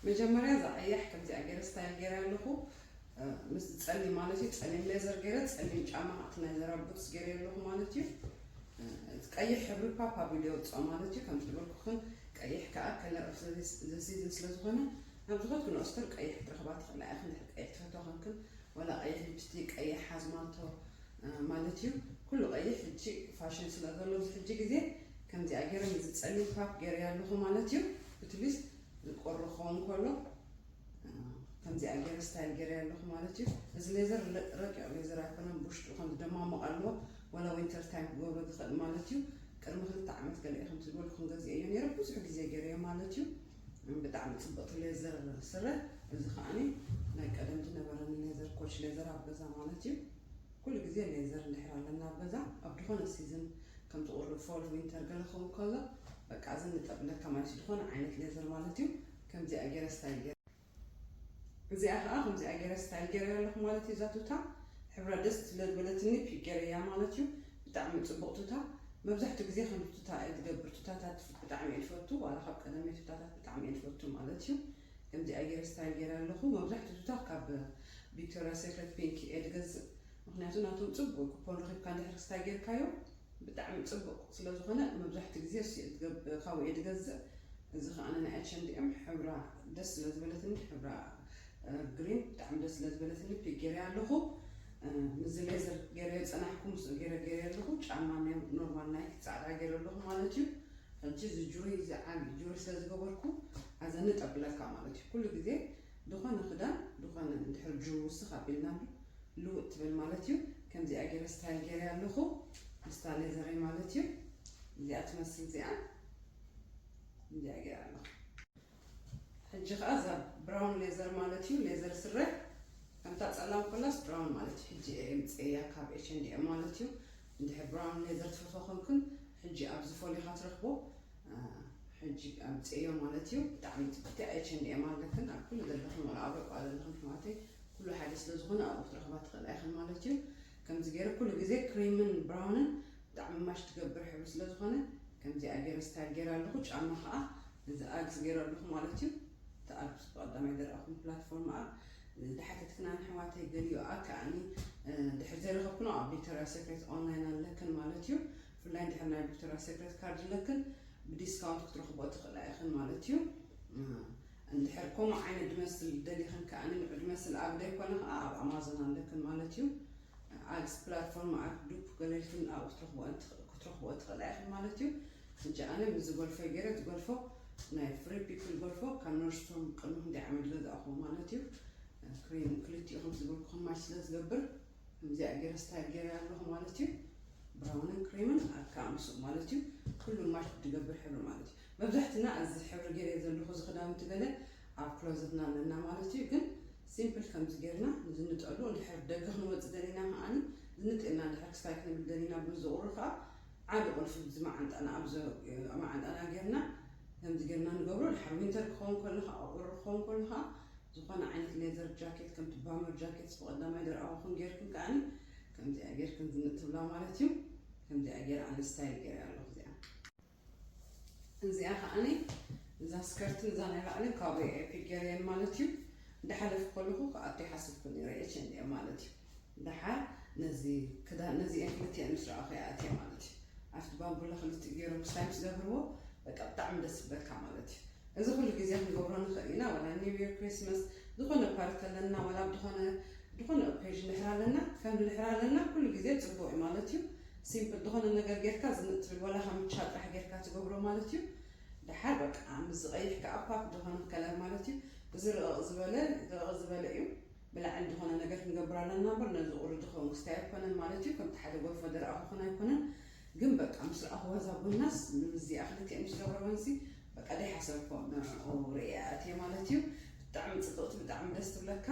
መጀመርያ እዛ ቀያሕ ከምዚኣ ገይረ ስታይል ገይረ ኣለኹ ምስ ፀሊም ማለት እዩ ፀሊም ሌዘር ገይረ ፀሊም ጫማ ካብቲ ናይ ዘራ ቡትስ ገይረ ኣለኹ ማለት እዩ ቀይሕ ሕብሪ ፓፓ ቪዲዮ ውፅኦ ማለት እዩ ከምቲ ዝበልኩኽን ቀይሕ ከዓ ከለር ኦፍ ዘሲዝን ስለዝኾነ ናብ ዝኾትክን ኦስተር ቀይሕ ክትረኽባ ትኽእላ ኢኽን ድሕሪ ቀይሕ ትፈትዋ ክንክን ዋላ ቀይሕ ሊፕስቲክ ቀይሕ ኣዝማልቶ ማለት እዩ ኩሉ ቀይሕ ሕጂ ፋሽን ስለ ዘሎ ኣብዚ ሕጂ ግዜ ከምዚኣ ገይረ ነዚ ጸሊም ፓክ ገይረያ ኣለኹ ማለት እዩ ብትሊስት ዝቆሪ ክኸውን ከሎ ከምዚኣ ገይረ ስታይል ገይረያ ኣለኹ ማለት እዩ እዚ ሌዘር ረቂቕ ሌዘር ኣይኮነን ብውሽጡ ከም ዝደማመቕ ኣለዎ ዋላ ዊንተር ታይም ክገብሮ ዝኽእል ማለት እዩ ቅድሚ ክልተ ዓመት ገለ ከምቲ ዝበልኩ ክንገዝኦ እዮ ነይረ ብዙሕ ግዜ ገይረዮ ማለት እዩ ብጣዕሚ ጽብቅቲ ሌዘር ስረ እዚ ከዓኒ ናይ ቀደም ዝነበረኒ ሌዘር ኮች ሌዘር ኣብ ገዛ ማለት እዩ ኩሉ ግዜ ሌዘር እንድሕር ኣለና ኣብ ገዛ ኣብ ድኾነ ሲዝን ከምቲ ቁሪ ፎል ዊንተር ገለ ክኸውን ከሎ በቃ እዚ ንጠብለካ ማለትዩ ድኾነ ዓይነት ሌዘር ማለት እዩ ከምዚኣ ጌረ ስታይ ጌረ እዚኣ ከኣ ከምዚኣ ገረ ስታይል ገረያ ኣለኹ ማለት እዩ እዛ ቱታ ሕብራ ደስ ስለዝበለትኒ ፒክ ገረያ ማለት እዩ ብጣዕሚ ጽቡቅ ቱታ መብዛሕቱ ግዜ ከምዚ ቱታ እየ ዝገብር ቱታታት ብጣዕሚ እየ ዝፈቱ ዋላ ካብ ቀደመይ ቱታታት ብጣዕሚ እየ ዝፈቱ ማለት እዩ ከምዚኣ ገረ ስታይል ገረ ኣለኹ መብዛሕቱ ቱታ ካብ ቪክቶሪያ ሴክሬት ፒንክ እየ ዝገዝእ ምክንያቱ ናቶም ጽቡቅ ኩፖን ረኪብካ እንድሕር ስታይ ጌርካዮ ብጣዕሚ ጽቡቅ ስለ ዝኮነ መብዛሕትኡ ግዜ እሱ እየ ካብኡ እየ ዝገዝእ እዚ ከኣ ናይ ኣቸንዲ እም ሕብራ ደስ ስለ ዝበለትኒ ሕብራ ግሪን ብጣዕሚ ደስ ስለ ዝበለትኒ ፒክ ገይረያ ኣለኩ ምዚ ሌዘር ገይረዮ ጸናሕኩ ምስ ገይረ ገይረ ኣለኩ ጫማ ናይ ኖርማል ናይክ ጻዕዳ ገይረ ኣለኩ ማለት እዩ ሕጂ እዚ ጁሪ እዚ ዓቢ ጁሪ ስለ ዝገበርኩ ኣዘ ንጠብለካ ማለት እዩ ኩሉ ግዜ ድኾነ ክዳን ድኾነ እንድሕር ጅው ውስኽ ኣቢልናሉ ልውጥ ትብል ማለት እዩ ከምዚኣ ጌረ ስታይል ጌረያ ኣለኹ ምስታ ሌዘረይ ማለት እዩ እዚኣ ትመስል እዚኣ እንዲኣ ጌረ ኣለኹ ሕጂ ከዓ እዛ ብራውን ሌዘር ማለት እዩ ሌዘር ስረ ከምታ ፀላም ኮላስ ብራውን ማለት እዩ ሕጂ እየ ምፅእያ ካብ ኤች ኤንድ ኤም ማለት እዩ እንድሕር ብራውን ሌዘር ትፈትዋ ኮንኩን ሕጂ ኣብዚ ፎሊኻ ትረኽቦ ሕጂ ኣምጽኤዮ ማለት እዩ ብጣዕሚ ጽብቅቲ ኣየ ቸንድኤ ማለክን ኣብ ኩሉ ዘለክን ወላ ኣብ ረቋ ዘለክን ኣሕዋተይ ኩሉ ሓደ ስለ ዝኮነ ኣብኡ ክትረክባ ትክእላ ኢክን ማለት እዩ ከምዚ ገይረ ኩሉ ግዜ ክሪምን ብራውንን ብጣዕሚ ማሽ ትገብር ሕብሪ ስለ ዝኮነ ከምዚኣ ገይረ ስታይል ገይረ ኣለኩ ጫማ ከዓ እዚ ኣግስ ገይረ ኣለኩ ማለት እዩ እቲ ኣግስ ብቀዳማይ ዘረኣኩም ፕላትፎርም ኣብ ዝሓተትክና ኣሕዋተይ ገሊኡ ኣብ ከዓኒ ድሕሪ ዘይረከብክኖ ኣብ ቪክቶሪያ ሴክሬት ኦንላይን ኣለክን ማለት እዩ ብፍላይ እንድሕር ናይ ቪክቶርያ ሴክሬት ካርድ ኣለክን ብዲስካውንት ክትረኽቦ ትኽእላ ኢኽን ማለት እዩ። እንድሕር ከምኡ ዓይነት ድመስል ደሊኽን ከኣ ንዕድመስል ኣብ ዘይኮነ ከኣ ኣብ ኣማዞን ኣለክን ማለት እዩ። ኣድስ ፕላትፎርም ኣድ ዱፕ ገለልክን ኣብኡ ክትረኽቦ ትኽእላ ኢኽን ማለት እዩ። ሕጂ ኣነ ምስ ዝጎልፈ ገይረ እቲ ጎልፎ ናይ ፍሪ ፒፕል ጎልፎ ካብ ኖርስቶም ቅድሚ ክንደይ ዓመት ገዛእኹዎ ማለት እዩ። ክልቲኡ ከምቲ ዝብልኩ ክማች ስለ ዝገብር ከምዚኣ ገይረ ስታይል ገይረ ኣለኹ ማለት እዩ ብራውንን ክሬምን ኣካ ምስኡ ማለት እዩ ኩሉ ማሽ ትገብር ሕብሪ ማለት እዩ መብዛሕትና እዚ ሕብሪ ገይረ ዘለኹ እዚ ክዳውንቲ ገለ ኣብ ክሎዘትና ኣለና ማለት እዩ ግን ሲምፕል ከምዚ ገይርና ንዝንጠሉ እንድሕር ደገ ክንወፅእ ደሊና ከዓኒ ዝንጥልና እንድሕር ክስታይ ክንብል ደሊና ብዝቑሩ ከዓ ዓዲ ቁልፊ እዚ መዓንጣና ኣብ መዓንጣና ገይርና ከምዚ ገይርና ንገብሮ ድሓር ዊንተር ክኸውን ከሎ ከዓ ቁሪ ክኸውን ከሎ ከዓ ዝኾነ ዓይነት ሌዘር ጃኬት ከምቲ ባመር ጃኬት ብቐዳማይ ደርኣዋኹን ጌርክን ከዓኒ ከምዚኣ ጌርክን ዝንእ ትብላ ማለት እዩ ከምዚኣ ጌር ኣነ ስታይል ጌር ኣለኹ እዚኣ እዚኣ ከዓኒ እዛ ስከርትን እዛ ናይ ላዕልን ካብኡ ኤፒክ ጌርየን ማለት እዩ እንዳሓለፍ ከለኹ ክኣቱ ይሓስብኩ ነረ ኤች ኤንድ ማለት እዩ ደሓር ነዚ ክዳን ነዚኤን ክልቲኤን ምስ ረኣኹ እየ ኣትየ ማለት እዩ ኣብቲ ባምቡላ ክልቲኡ ጌሮም ክሳይ ምስ ገብርዎ በቃ ብጣዕሚ ደስ ክብለካ ማለት እዩ እዚ ኩሉ ግዜ ክንገብሮ ንኽእል ኢና ዋላ ኒው ይር ክሪስመስ ዝኾነ ፓርቲ ኣለና ዋላ ብድኾነ ድኾነ ኦኬዥን ንሕር ኣለና ከም ንሕር ኣለና ኩሉ ግዜ ጽቡቅ እዩ ማለት እዩ ሲምፕል ድኾነ ነገር ጌርካ ዝንጥ ትብል ዋላ ካምቻ ጥራሕ ጌርካ ትገብሮ ማለት እዩ ደሓር በቃ ምስ ዝቀይሕ ከኣ ፓክ ድኾነ ከለር ማለት እዩ እዚ ርቕቕ ዝበለ ርቕቕ ዝበለ እዩ ብላዕል ድኾነ ነገር ክንገብር ኣለና እምበር ነዚ ቁሪ ድኸውን ክስታይ ኣይኮነን ማለት እዩ ከምቲ ሓደ ጎርፎ ደረኣ ክኾን ኣይኮነን ግን በቃ ምስ ረኣኹዋ እዛ ጎናስ ምምዝያ ክልቲኤን ምስ ገበረወንሲ በቃ ደይሓሰብኮ ንዕኡ ርእያ ኣትየ ማለት እዩ ብጣዕሚ ጽብቕቲ ብጣዕሚ ደስ ትብለካ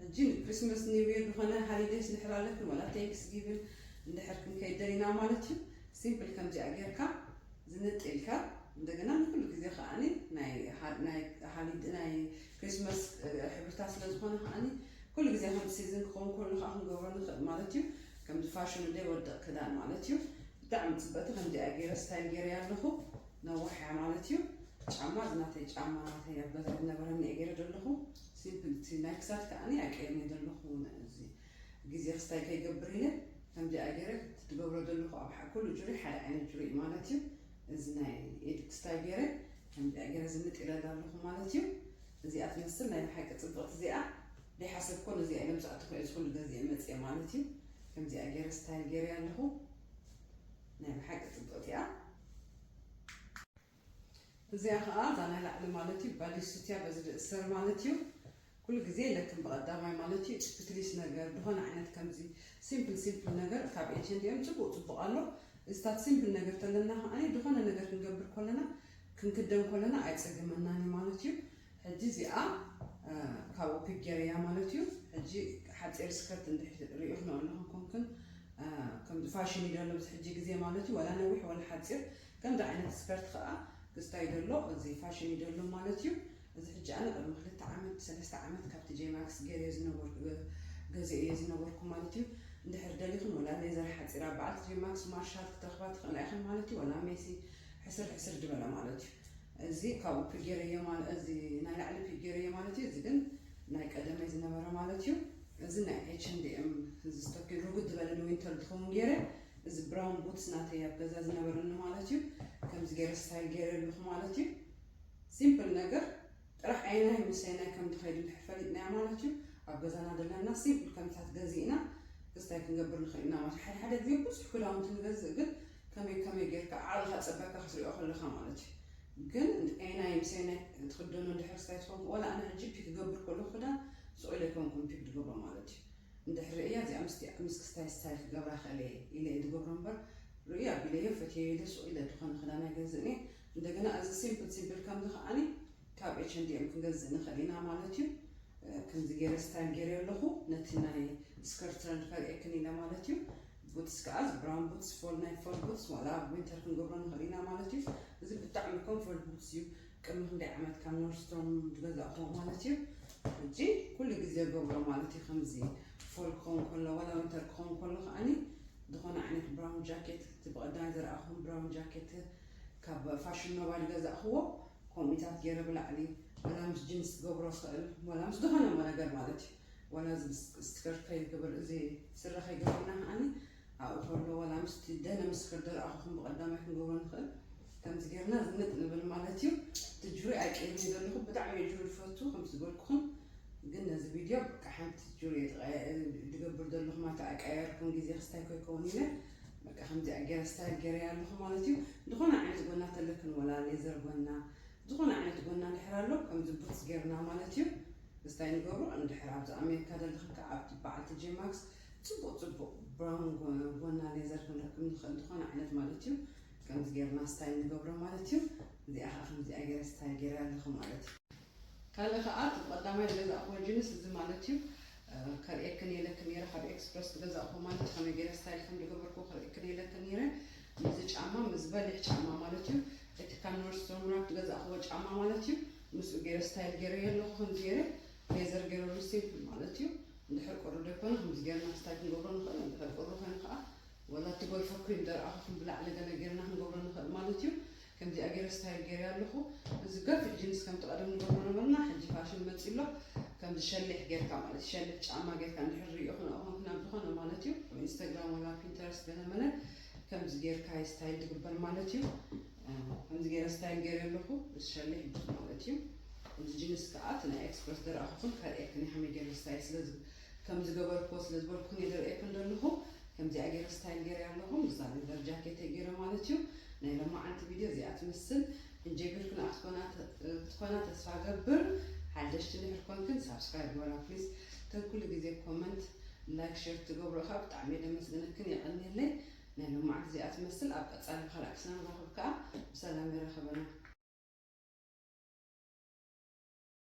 ሕጂ ንክሪስመስ ኒውየር ዝኾነ ሃሊደይስ ንሕላለፍን ወላ ቴንክስ ጊቭን እንድሕር ክንከይድ ደሊና ማለት እዩ ሲምፕል ከምዚኣ ጌርካ ዝንጥ ኢልካ እንደገና ንኩሉ ግዜ ከዓኒ ናይ ናይ ሃሊድ ናይ ክሪስማስ ሕብርታት ስለ ዝኾነ ከዓኒ ኩሉ ግዜ ከም ሲዝን ክኸውን ከሎ ከዓ ክንገብሮ ንኽእል ማለት እዩ ከምዚ ፋሽኑ ዘይወድቕ ክዳን ማለት እዩ ብጣዕሚ ፅበቲ ከምዚኣ ገይረ ስታይል ገይረያ ኣለኹ ነዋሕ እያ ማለት እዩ ጫማ እዚ ናተይ ጫማ ናተይ ኣብ ገዛ ዝነበረኒ እየ ገይረ ዘለኹ ሲምፕል እቲ ናይ ክሳድ ከዓኒ ኣይቀይርን እየ ዘለኹ እዚ ግዜ ክስታይ ከይገብር ኢለ ከምዚኣ ገይረ ትገብሮ ዘለኹ ኣብ ኩሉ ጁሪ ሓደ ዓይነት ጁሪ ማለት እዩ እዚ ናይ ኢድ ክስታይ ገይረ ከምዚኣ ገረ ዝንጥ ኢለ እዳ ኣለኹ ማለት እዩ እዚኣ ትመስል ናይ ብሓቂ ጽብቕቲ እዚኣ ደይሓሰብ ኮን እዚኣ ኢሎም ዝኣተኹ እየ ዝኹሉ ገዚኤ መጽየ ማለት እዩ ከምዚኣ ገረ ስታይል ገረ ኣለኹ ናይ ብሓቂ ጽብቕቲ እያ እዚኣ ከዓ እዛ ናይ ላዕሊ ማለት እዩ ባዲሱትያ በዚ ድእሰር ማለት እዩ ኩሉ ግዜ የለክን ብቀዳማይ ማለት እዩ ጭፕትሊስ ነገር ድኮነ ዓይነት ከምዚ ሲምፕል ሲምፕል ነገር ካብ ኤችንዲኤም ጽቡቅ ጽቡቅ ኣሎ እዚታት ሲምፕል ነገር ተለና ከኣ ድኮነ ነገር ክንገብር ኮለና ክንክደን ኮለና ኣይጸግመናን እዩ ማለት እዩ ሕጂ እዚኣ ካብኡ ፒክ ገይረያ ማለት እዩ ሕጂ ሓጺር ስከርት እንድሕር ሪኢክኖ ኣለኹም ኮንክን ከምዚ ፋሽን እዩ ዘሎ ብዚ ሕጂ ግዜ ማለት እዩ ወላ ነዊሕ ወላ ሓጺር ከምዚ ዓይነት ስከርት ከኣ ክስታይ ደሎ እዚ ፋሽን እዩ ደሎ ማለት እዩ እዚ ሕጂ ኣነ ቅድሚ ክልተ ዓመት ሰለስተ ዓመት ካብቲ ጀማክስ ገርዮ ዝነበርኩ ገዚኦ እየ ዝነበርኩ ማለት እዩ እንድሕር ደሊኽን ወላ ሌዘር ሓጺራ በዓልቲ ጀማክስ ማርሻል ክትረኽባ ትኽእላ ኢኽን ማለት እዩ ወላ ሜሲ ሕስር ሕስር ድበለ ማለት እዩ እዚ ካብኡ ፒክ ገረዮ ማለት እዚ ናይ ላዕሊ ፒክ ገረዮ ማለት እዩ እዚ ግን ናይ ቀደመይ ዝነበረ ማለት እዩ እዚ ናይ ኤች ኤንድ ኤም እዚ ስቶኪን ርጉድ ዝበለ ንዊንተር ዝኸውን ገይረ እዚ ብራውን ቡትስ ናተይ ኣብ ገዛ ዝነበረኒ ማለት እዩ ከምዚ ገይረ ስታይል ገይረ ኣለኹ ማለት እዩ ሲምፕል ነገር ጥራሕ ኣየናይ ምስ ኣየናይ ከም ትኸይድ እንድሕር ፈሊጥናዮ ማለት እዩ ኣብ ገዛና ዘለና ሲምፕል ከምታት ገዚእና ክስታይ ክንገብር ንኽእል ኢና ማለት ሓደ ሓደ ግዜ ብዙሕ ክዳውንቲ ንገዝእ ግን ከመይ ከመይ ጌርካ ዓቕልኻ ጸበካ ክትሪኦ ከለኻ ማለት እዩ ግን ኣየናይ ምስ ኣየናይ ትኽደኖ እንድሕር ክስታይ ትኸውን ወላ ኣነ ሕጂ ፒክ ክገብር ከለኹ ክዳን ስቑኢለ ኣይኮንኩን ፒክ ዝገብሮ ማለት እዩ እንድሕር ርእያ እዚኣ ምስ ምስ ክስታይ ስታይል ክገብራ ክእል እየ ኢለ እየ ዝገብሮ እምበር ርእዩ ኣቢለዮ ፈትየዮ ኢለ ስቑኢለ ዝኾነ ክዳን ኣይገዝእን እየ እንደገና እዚ ሲምፕል ሲምፕል ከምዚ ከኣ ካብ ኤች ኤንድ ኤም ክንገዝእ ንኽእል ኢና ማለት እዩ ከምዚ ገይረ ስታይል ገይረ ኣለኹ ነቲ ናይ ስከርት ትረንድ ከርእየክን ኢለ ማለት እዩ ቡትስ ከዓ ብራውን ቡትስ ፎል ናይ ፎል ቡትስ ዋላ ኣብ ዊንተር ክንገብሮ ንኽእል ኢና ማለት እዩ እዚ ብጣዕሚ ኮምፎርት ቡትስ እዩ ቅድሚ ክንደይ ዓመት ካብ ኖርስቶን ዝገዛእኹዎ ማለት እዩ ሕጂ ኩሉ ግዜ ገብሮ ማለት እዩ ከምዚ ፎል ክኸውን ከሎ ዋላ ዊንተር ክኸውን ከሎ ከዓኒ ዝኾነ ዓይነት ብራውን ጃኬት እቲ ብቐዳማይ ዝረኣኹም ብራውን ጃኬት ካብ ፋሽን ኖቫ ዝገዛእክዎ ኮምኢታት ጌረ ብላዕሊ ዋላ ምስ ጅንስ ክገብሮ ይክእል ዋላ ምስ ዝኮነ ነገር ማለት እዩ ዋላ እዚ ስክርት ከይገብር እዚ ስረ ከይገብርና ከዓኒ ኣብኡ ከሎ ዋላ ምስቲ ደነ ምስ ከደረኣኹኹም ብቀዳማይ ክንገብሮ ንክእል ከምዚ ጌርና ዝንጥ ንብል ማለት እዩ እቲ ጁሪ ኣይቀይርን ዘለኹ ብጣዕሚ እዩ ጁሪ ዝፈቱ ከም ዝበልኩኹም ግን ነዚ ቪድዮ በቃ ሓንቲ ጁሪ ድገብር ዘለኹ ማለት ኣይቀየርኩን ግዜ ክስታይ ከይከውን ኢለ በቃ ከምዚኣ ገይረ ስታይል ገይረያ ኣለኹ ማለት እዩ ዝኾነ ዓይነት ጎና ተለክን ወላ ሌዘር ጎና ዝኾነ ዓይነት ጎና እንድሕር ኣሎ ከምዚ ቡትስ ገይርና ማለት እዩ ምስታይ ንገብሮ እንድሕር ኣብዚ ኣሜሪካ ዘለኽን ከዓ ኣብቲ በዓልቲ ጄማክስ ፅቡቅ ፅቡቅ ብራውን ጎና ሌዘር ክንረክብ ንኽእል ዝኾነ ዓይነት ማለት እዩ ከምዚ ገይርና ስታይል ንገብሮ ማለት እዩ እዚኣ ከዓ ከምዚኣ ገይረ ስታይል ገይረ ኣለኹ ማለት እዩ ካልእ ከኣ እቲ ብቀዳማይ ዝገዛእክዎ ጅንስ እዚ ማለት እዩ ከርእየክን እየ ኢለክን ነይረ ካብ ኤክስፕረስ ዝገዛእክዎ ማለት እዩ ከመይ ገይረ ስታይል ከም ዝገበርክዎ ከርእየክን እየ ኢለክን ነይረ ምስዚ ጫማ ምስ በሊሕ ጫማ ማለት እዩ እቲ ካብ ኖርስትሮም ራክ ዝገዛእክዎ ጫማ ማለት እዩ ምስኡ ገይረ ስታይል ገይረዮ ኣለኹ ከምዚ ገይረ ሌዘር ገይረሉ ሲምፕል ማለት እዩ እንድሕር ቁሪ ዘይኮነ ከምዚ ገይርና ስታይ ክንገብሮ ንኽእል እንድሕር ቁሪ ኮይኑ ከዓ ወላ እቲ ጎልፎ ክሪም ደረኣኹ ብላዕሊ ገለ ገይርና ክንገብሮ ንኽእል ማለት እዩ ከምዚኣ ጌረ ስታይል ጌረያ ኣለኹ እዚ ገፊሕ ጅንስ ከምቲ ቀደም ንገብሮ ነበርና ሕጂ ፋሽን መጺ ኣሎ ከምዚ ሸሊሕ ጌርካ ማለት ሸሊሕ ጫማ ጌርካ እንድሕር ሪኦ ክነኡ ኮንኩ ናብ ዝኾነ ማለት እዩ ኣብ ኢንስታግራም ወላ ፒንተረስት ገለ መለ ከምዚ ጌርካ ስታይል ትግበር ማለት እዩ ከምዚ ጌረ ስታይል ጌረ ኣለኹ እዚ ሸሊሕ ቡት ማለት እዩ እዚ ጅንስ ከዓ እቲ ናይ ኤክስፕረስ ደረኣኹኹን ከርእየክን ከመይ ጌረ ስታይል ስለዚ ከም ዝገበርክዎ ስለ ዝበልኩ እየ ዝርእየክን ዘለኹ ከምዚኣ ገይረ ስታይል ገይረያ ኣለኹ ምስዛ ሌዘር ጃኬተይ ገይረ ማለት እዩ ናይ ለማዓንቲ ቪድዮ እዚኣ ትምስል እንጀቢር ክነኣ ክትኮና ተስፋ ገብር ሓደሽቲ እንድሕር ኮንክን ሳብስክራይብ ግበራ ፕሊስ ከም ኩሉ ግዜ ኮመንት ላይክ ሼር ትገብሮ ከዓ ብጣዕሚ እየ ደመስግነክን የቐንየለይ ናይ ለማዓንቲ እዚኣ ትመስል ኣብ ቀፃሊ ብካልእ ክስና ንራኸብ ከዓ ብሰላም የራኸበና